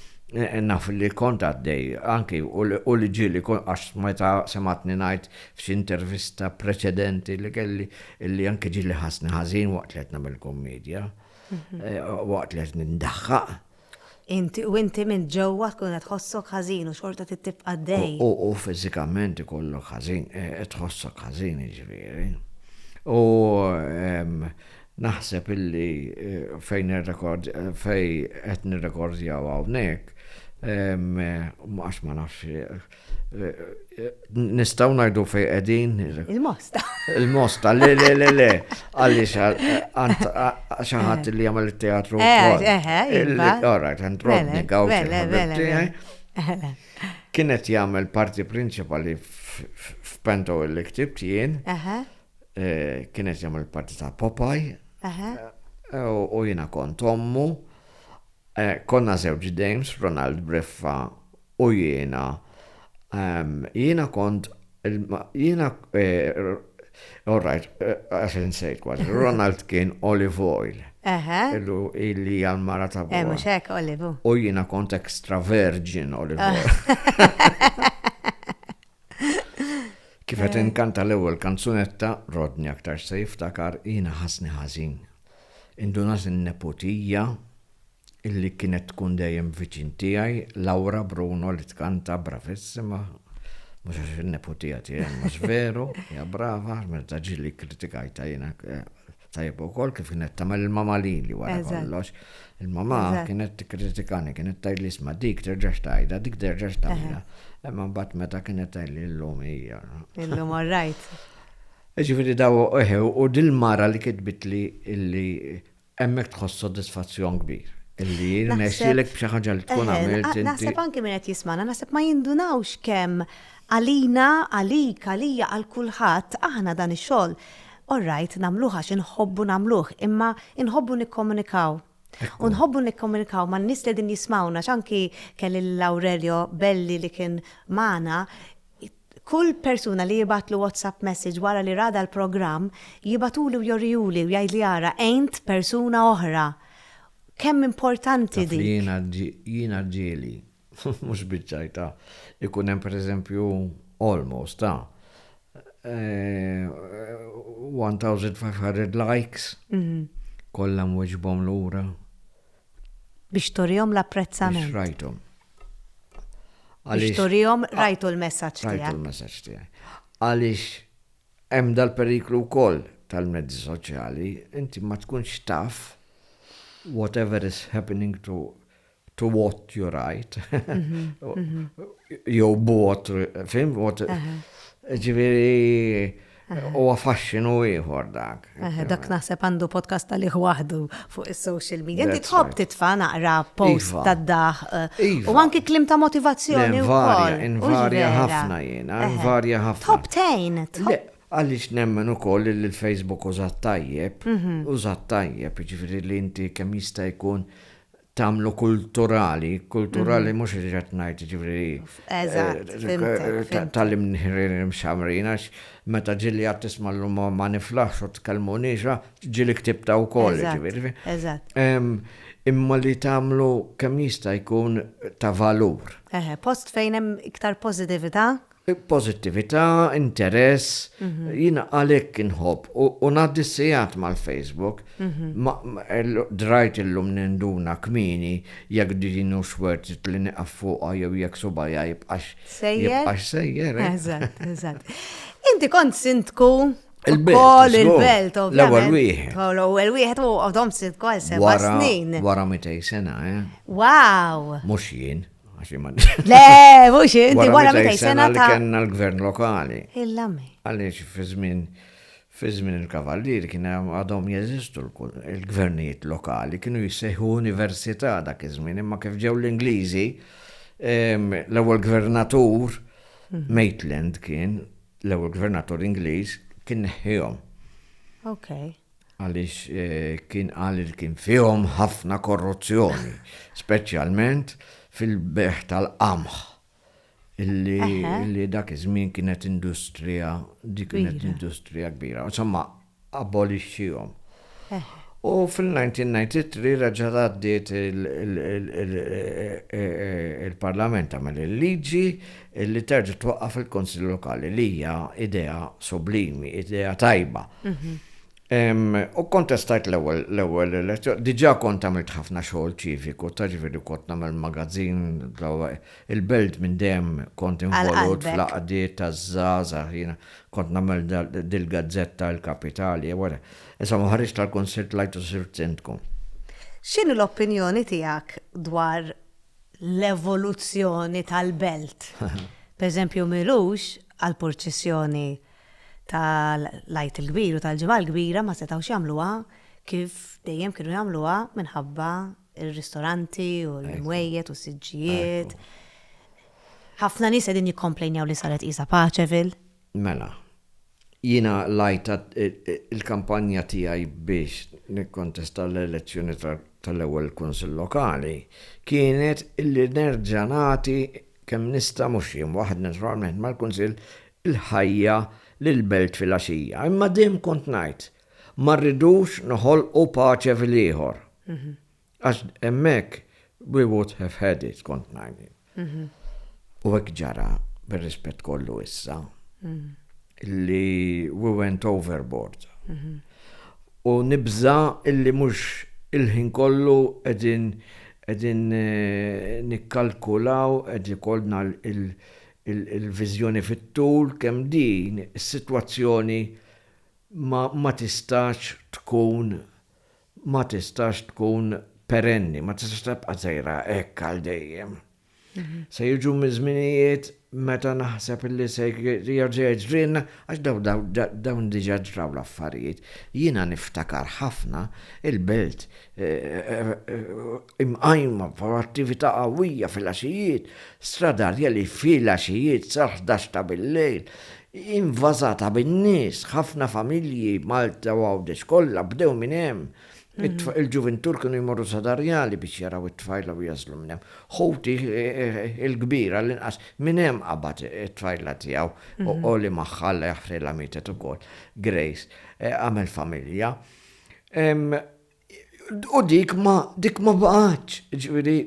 naf li kont għaddej anki u li ġieli għax meta semgħatni ngħid F'xi intervista preċedenti li kelli li anke ġieli ħassni ħażin waqt li qed nagħmel kummedja, mhm. eh, waqt li qed nindaħħaq. Inti u inti minn ġewwa tkun qed tħossok ħażin u xorta tibqa' dej. U fiżikament ikollok ħażin, eh, qed tħossok ħażin jiġifieri. U ehm, naħseb illi eh, fejn ir-rekord fej qed nirrekordjaw hawnhekk ehm, għax ma nafx Nistaw najdu fej edin. Il-mosta. Il-mosta, le, le, le, le. Għalli xaħat li għamil il-teatru. Eh, eh, eh. Alright, għant rodni għaw. Kienet jgħamil parti principali f'pento il ktib jien. Kienet jgħamil parti ta' Popeye. U jina kont ommu. Konna zewġ Dames, Ronald Breffa U jiena, ehm, jiena kont, jiena, eh, all right, għax insejt kważi, Ronald kien olive oil. Eħe. Illu illi hija l-mara ta' buha. Eh, mhux hekk, olive. U jiena kont extra virgin olive ah. oil. Kif qed eh. inkanta l-ewwel kanzunetta, Rodni aktar se jiftakar jiena ħasni ħażin. Indunat in-neputija illi kienet tkun dejjem viċin tiegħi, Laura Bruno li tkanta bravissima, mhux għax in-neputija tiegħi imma x'veru, hija brava, meta ġieli kritikajta jiena tajjeb ukoll kif kienet tagħmel il-mama lili wara kollox. Il-mama kienet tikkritikani, kienet tgħidli isma' dik terġax tajda, dik terġax tagħmilha. Imma mbagħad meta kienet tgħidli llum hija. Illum all right. Ġifieri daw u dil-mara li kitbitli illi Hemmhekk tħoss sodisfazzjon kbir illi jirnexxielek b'xi ħaġa li tkun għamilt inti. Naħseb anki min qed jismagħna, naħseb ma jindunawx kemm għalina, għalik, għalija, għal kulħadd, aħna dan ix-xogħol, all right, nagħmluh għax inħobbu nagħmluh, imma inħobbu nikkomunikaw. U nħobbu nikkomunikaw man-nies li qegħdin jismgħuna, x'anki kelli lil Aurelio Belli li kien magħna, Kull persuna li jibgħatlu WhatsApp message wara li ra dal-programm, jibgħatuli u jorihuli u jgħidli ara għint persuna oħra. Kemm importanti dik. Taf li jiena jiena ġieli mhux biċ-ċajta jkun hemm pereżempju almost ta' 1500 likes kollha nwieġbhom lura. Biex turihom l-apprezzament. Biex rajthom. Għaliex turihom rajtu l-messaġġ tiegħek. Rajtu l-messaġġ tiegħi. Għaliex hemm dal-periklu wkoll tal-mezzi soċjali, inti ma tkunx taf whatever is happening to to what you write. Mhm, mhm. Jew what, fim, what. Ġifieri Huwa faxxinu ieħor dak. Dak naħseb għandu podcast għalih waħdu fuq is-social media. Inti tħobb titfa' naqra post iva. tad-daħ iva. u anki klim ta' motivazzjoni wkoll. Invarja ħafna jiena, invarja ħafna. Tħobb tejn. Għaliex nemmen ukoll li l-Facebook użat tajjeb, mhm. użat tajjeb, ġifieri li inti kemm jista' jkun tagħmlu kulturali, kulturali mhm. mhux li ġat ngħid ġifieri. Eżatt. Eh, Tallim nħirin mxamrin għax meta ġili għat tisma' l ma niflaħx u tkellmu niġa ġili ktibta wkoll ġifieri. Eżatt. Imma li tagħmlu kemm jista' jkun ta' valur. Eħe, post fejn hemm iktar pożitività. Pożittività, interess, jiena għalhekk inħobb u ngħaddi sigħat mal-Facebook. Drajt illum ninduna kmieni jekk din hux worth it li nieqaf fuqha jew jekk subajja jibqax sejjer. Eżatt, eżatt. Inti kont sindku Il-belt. Il-belt, L-ewwel wieħed. L-ewwel wieħed u għodhom sitt kol seba' snin. Wara mitej sena, eh? Wow! Mhux jien. Le, mux inti, wara meta jisena ta' kena l-gvern lokali. Il-lame. Għalix fi żmien fi żmien il-kavallier kien għadhom jeżistu l-gvernijiet lokali, kienu jissejħu università dak iż-żmien, imma kif ġew l-Ingliżi, l-ewwel gvernatur mhm. Maitland kien l-ewwel gvernatur Ingliż kien neħħihom. Okay. għaliex kien qal li kien fihom ħafna korruzzjoni, speċjalment fil-bejgħ tal-qamħ li dak iż-żmien kienet industrija, dik kienet industrija kbira. Insomma, abolixxihom. U fil-1993 reġa' għaddiet il-Parlament għamel il-liġi li terġa' twaqqaf il-Kunsill Lokali li hija idea sublimi, idea tajba. U kontestajt l-ewwel l-ewwel elezzjoni, diġà kont għamilt ħafna xogħol ċiviku, ta' ġifieri kont nagħmel magazzin il-belt minn dejjem kont involut fl-għaqdiet taż-żgħażagħ, jiena kont nagħmel dil-gazzetta l-kapitali, wara. Issa ma ħarġt tal-Kunsill tlajtu sirt sindku. X'inhi l-opinjoni tiegħek dwar l-evoluzzjoni tal-belt. Pereżempju Milux għall-purċissjoni tal-Għid il-Kbir u tal-Ġimgħa l-Kbira ma setgħux jagħmluha kif dejjem kienu jagħmluha minħabba r-ristoranti u l-imwejjed u s-siġġijiet. Ħafna nies qegħdin jikkomplejnjaw li saret qisha paċe fil. Mela, jiena lajt il-kampanja tiegħi biex nikkontesta l-elezzjoni tal-ewwel Kunsill Lokali kienet li nerġa' nagħti kemm nista' mhux jien waħd naturalment mal-Kunsill il-ħajja lill-belt filgħaxija. Imma dejjem kont ngħid, ma rridux noħolqu paċe fil-ieħor. Għax hemmhekk we would have had it, kont ngħid. U hekk ġara, bir-rispett kollu issa, li we went overboard. U nibża illi mhux il-ħin kollu qegħdin qegħdin eh, nikkalkulaw qed ikollna il-viżjoni fit-tul kemm din is-sitwazzjoni ma, ma tistax tkun ma tistax tkun perenni, ma tistax tibqa' sejra hekk għal dejjem. Se jiġu miż-żminijiet meta naħseb li se jerġa' jiġrilna għax dawn diġà ġraw l-affarijiet. Jiena niftakar ħafna il-belt imqajma f'attività qawwija filgħaxijiet, Strada Arjeli filgħaxijiet sal-ħdax ta' billejl, Hi nvasata bin-nies, ħafna familji, Malta u Għawdex kollha, bdew minn hemm. Il-ġuvintur kienu jmorru sa Darjali biex jaraw it-tfajla u jagħżlu minn hemm. Ħuti l-kbir għall-inqas minn hemm qabad it-tfajla tiegħu u li magħha Alla jaħfrilha mietet ukoll, Grace, għamel familja. U dik ma dik ma baqgħatx, ġifieri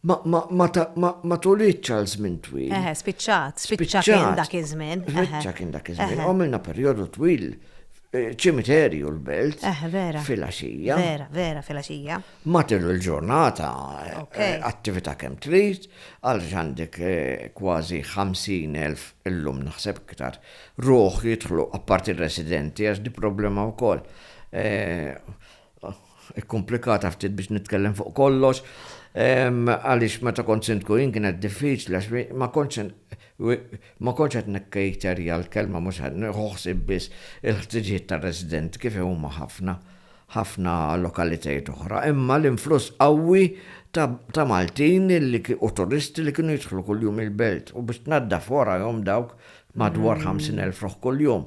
ma tulitx għal żmien twil. Eħe, spiċċat, spiċċa kien dak iż-żmien. Spiċċa kien dak iż-żmien. Għamilna perjodu twil eh, ċimiterju l-belt. Eħe, vera. Fil-għaxija. Vera, vera, fil-għaxija. Matil il-ġurnata, eh, attività kemm trid, għal għandek eh, kważi 50.000 illum naħseb iktar. Ruħ jidħlu apparti residenti għax di problema wkoll. Ikkumplikata ftit biex nitkellem fuq kollox, għaliex meta kont Sindku jien kienet diffiċli għax ma kontx ma kontx qed nikcater hija l-kelma mhux ħa nieħu ħsieb biss il-ħtiġijiet tar-residenti kif huma ħafna ħafna lokalitajiet oħra, imma l-influss qawwi ta' Maltin li u turisti li kienu jidħlu kuljum il-belt u biex tnaddaf warajhom dawk madwar 50,000 ruħ kuljum.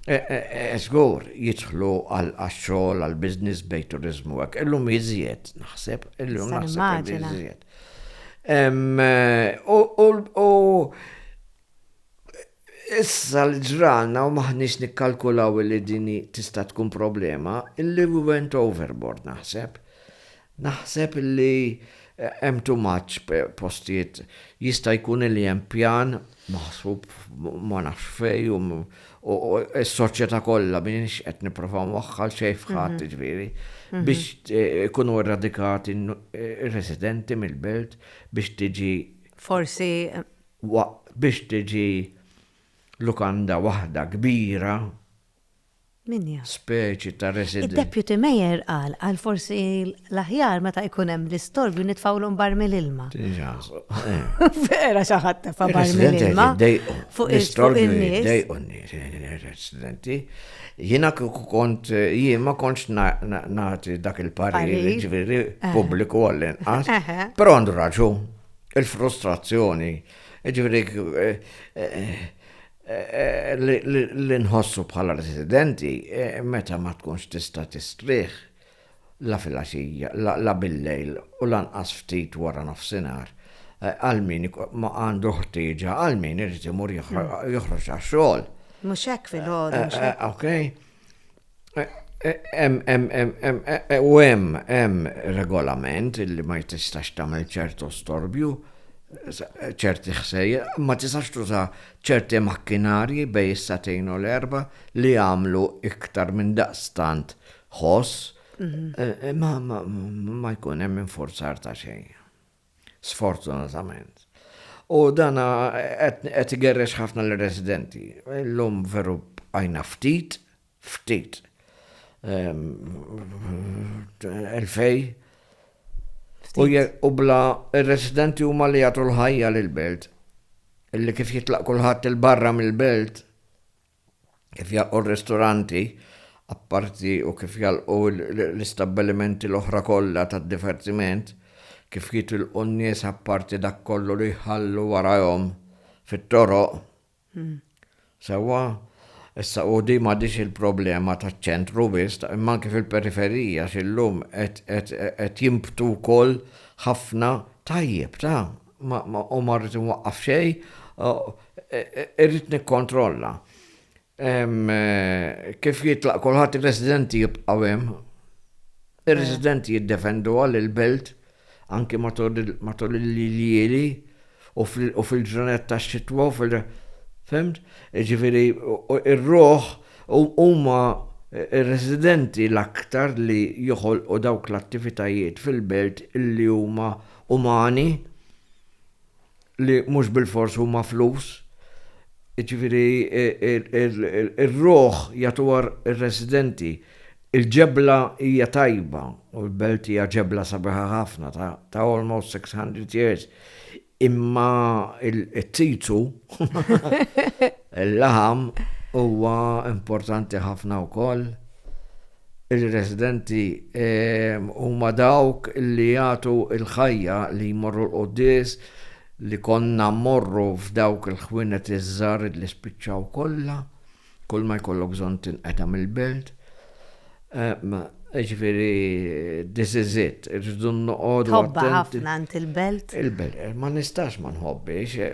Żgur, jidħlu għax-xogħol, għall-business bejn turiżmu u hekk. Illum iżjed, naħseb. Illum naħseb iżjed. U issa li ġralna u maħniex nikkalkulaw li dini tista' tkun problema, illi we went overboard naħseb. Naħseb li hemm too much postijiet. Jista' jkun li hemm pjan maħsub ma nafx fejn u s-soċjetà kollha m'iniex qed nipprova nwaħħal xejn f'ħadd jiġifieri biex ikunu erradikati r-residenti mill-belt biex tiġi Forsi biex tiġi lukanda waħda kbira. Minja. Speċi ta' resident. Id-Deputy Mayor qal qal forsi l-aħjar meta jkun hemm l-istorbju nitfgħulhom barmil ilma. Vera xi ħadd tefa' barmil ilma. Fuq il-istorbju jdejqu n-nies. Residenti. Jiena kont jien ma kontx nagħti dak il-parir ġifieri pubbliku għall-inqas. Però għandu raġun il-frustrazzjoni. Ġifieri li nħossu bħala residenti e, meta ma tkunx tista' tistrieħ la filgħaxija, la billejl u lanqas ftit wara nofsinhar e, għal min ma għandu ħtieġa għal min irid imur joħroġ għax-xogħol. Mhux hekk fil-ħodu. E, ok. U hemm hemm regolament li ma jtistax tagħmel ċertu storbju, ċerti ħsejja, ma tistax tuża ċerti makkinarji bej is-satejn u l-erba li jagħmlu iktar minn daqstant ħoss, ma jkun hemm infurzar ta' xejn. Sfortunatament. U dan qed igerrex ħafna lir-residenti. Illum veru bqajna ftit, ftit elfej u bla ir-residenti huma li jagħtu l-ħajja lill-belt. Illi kif jitlaq kulħadd il-barra mill-belt, kif jagħlqu r-ristoranti, apparti u kif jagħlqu l-istabbilimenti l-oħra kollha tad-divertiment, kif jitilqu n-nies apparti dak kollu li jħallu warajhom fit-toroq. Sewwa, issa u di m'għadhiex il-problema taċ-ċentru biss, imma anke fil-periferija x'illum qed jinbtu wkoll ħafna tajjeb ta'. u ma rrid inwaqqaf xejn, irrid nikkontrolla. Kif jitlaq kulħadd ir-residenti jibqgħu hemm. Ir-residenti jiddefenduha lill-belt anki matul il-lili u fil-ġranet tax-xitwa u fil- fimt? Jiġifieri r-ruħ huma r-residenti l-aktar li joħolqu dawk l-attivitajiet fil-belt li huma umani li mhux bilfors huma flus. Jiġifieri ir-ruħ jagħtuha r-residenti. Il-ġebla hija tajba u l-belt hija ġebla sabiħa ħafna ta' almost 600 years. Imma t-tizzu, il-laħam huwa importanti ħafna wkoll. Ir-residenti huma dawk li jagħtu l-ħajja, li jmorru l-quddies, li konna mmorru f'dawk il-ħwienet iż-żgħar li spiċċaw kollha, kull ma jkollok bżonn tinqeta' mill-belt. Jiġifieri this is it, irridu noqogħdu. Tħobbha ħafna int il-belt? Il-belt, ma nistax ma nħobbhiex,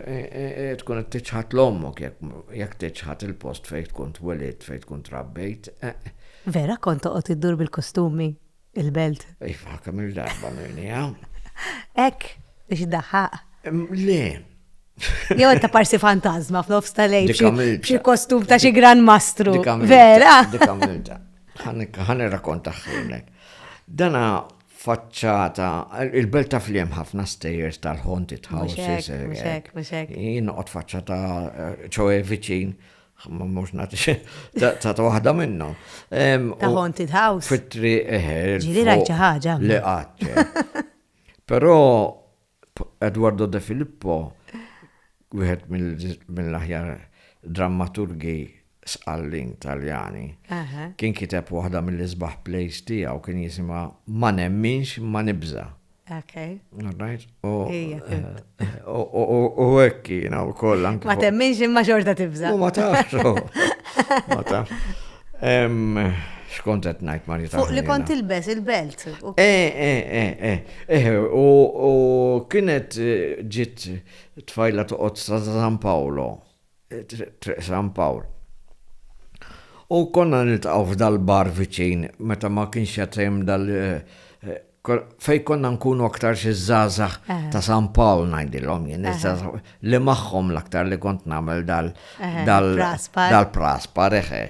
tkun qed tiċħad 'l ommok jekk tiċħad il-post fejn tkun twelidt, fejn tkun trabbejt. Vera kont toqgħod iddur bil-kostumi il-belt. Iva, kemm il-darba minni hawn. Ek, biex daħaq. Le. Jew ta' parsi fantasma f'nofs ta' lejn xi kostum ta' xi gran mastru. Vera. Dikamilta. Ħan irrakonta ħilnek. Dana faċċata, il-belt ta' fliem ħafna stejers tal-ħonti tħawsis. Jien noqgħod faċċata eh, ċoe viċin Ma mux nati ta' waħda minnom. Ta' haunted house. Fitri eħer. Ġili rajċa ħagġa. Li għadċa. Pero Eduardo De Filippo, wieħed mill-aħjar drammaturgi sqallin taljani, kien kiteb waħda mill-isbaħ plays tiegħu kien jisimha Ma nemminx ma nibża. Okay. All right. U hekk jiena wkoll anke. Ma temminx imma xorta tibża. Ma tafx. Ma tafx. Xkont qed ngħid ma Fuq li kont ilbes il-belt. Eh, eh, eh, eh. eh u kienet eh, ġiet tfajla toqgħod sa San Paolo. Triq San Pawl. U konna niltaqgħu f'dal-bar viċin meta ma kienx qed hemm dal fejn konna nkunu aktar xi żgħażagħ ta' San Pawl ngħidilhom jien li magħhom l-aktar li kont nagħmel dal dal-praspar eħe.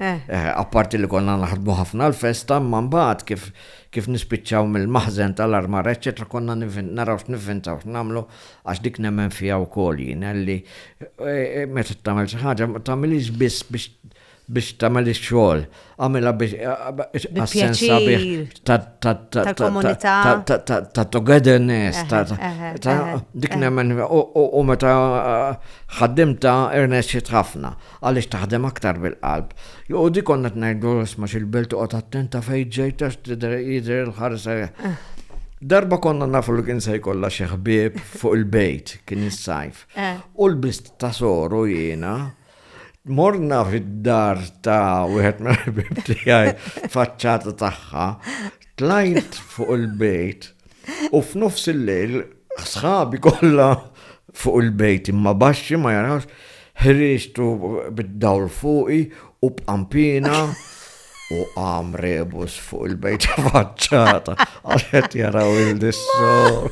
Apparti li konna naħdmu ħafna l-festa imma mbagħad kif kif nispiċċaw mill-maħżen tal-armar eċċetera konna naraw x'nivvintaw x'nagħmlu Għax dik nemmen fiha wkoll jien, li meta tagħmel xi ħaġa ma tagħmilhiex biss biex biex tagħmel ix-xogħol, għamilha biex għas-sens sabiħ tal-komunità ta' togetherness ta' dik nemmen u meta ħaddimta irnexxiet ħafna. Għaliex taħdem aktar bil-qalb. Joqogħdu jkollna qed ngħidlu isma' x'ilbilt oqgħod attent ta' fejn ġejt għax tidher jidher il-ħares Darba konna nafu li kien se jkollha xi ħbieb fuq il-bejt, kien is-sajf. Eh. U l-bist ta' soru jiena morna fid-dar ta' wieħed mill-ħbieb tiegħi faċċata tagħha Tlajt fuq il-bejt u f'nofs il-lejl sħabi kollha fuq il-bejt imma baxxi ma jarawx ħriġtu bid-dawl fuqi u b'qampina u qam rebus fuq il-bejt faċċata għaxet jaraw il-dissor.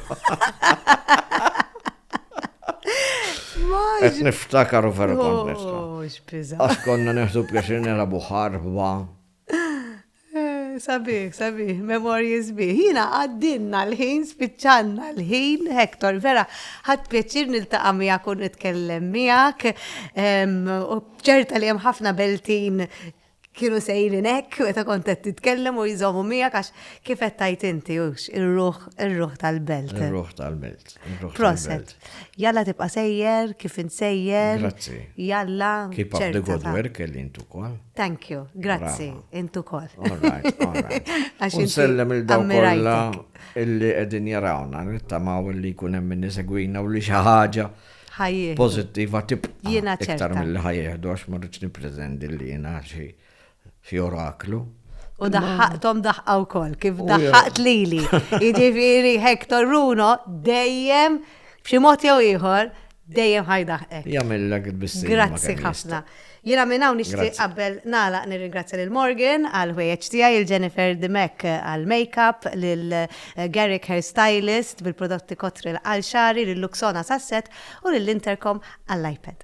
Qed niftakar u vera kont niftakar. Għax konna neħdu pjaċir nelabu ħarba. Sabiħ, sabiħ, memorji sbiħ. Jina għaddinna l-ħin, spiċċanna l-ħin, Hector, vera, ħadd pjaċir niltaqa' miegħek u nitkellem miegħek. U ċerta li hemm ħafna beltin kienu sejrin hekk meta kont qed titkellem u jżommu miegħek għax kif qed tajt inti hux ir-ruħ ir-ruħ tal-belt. Ir-ruħ tal-belt. Proset. Jalla tibqa' sejjer, kif insejjer. Grazzi. Jalla. Keep up the good work li intu kol. Thank you, grazzi, intu kol. Nsellem il-daw kolla illi edin jarawna, nittamaw illi kunem minni segwina u li xaħġa pozittiva tibqa. Jena ċerta. Iktar mill-li ħajjeħdu għax marriċ niprezendi li jena xie. fi oraklu. U daħħaqtom daħqa wkoll, kif oh, daħħaqt lili. Jiġifieri Hector Runo dejjem b'xi mod jew ieħor dejjem ħajdaħqek. Jagħmellek biss. Grazzi ħafna. Jiena minn hawn nixtieq qabel nagħlaq nirringrazzja lil Morgan għal ħwejjeġ tiegħi il Jennifer Dimek għal makeup lil eh, Garrick Hairstylist bil-prodotti kotri l-qalxari lil Luxona Sasset u lil Intercom għall-iPad.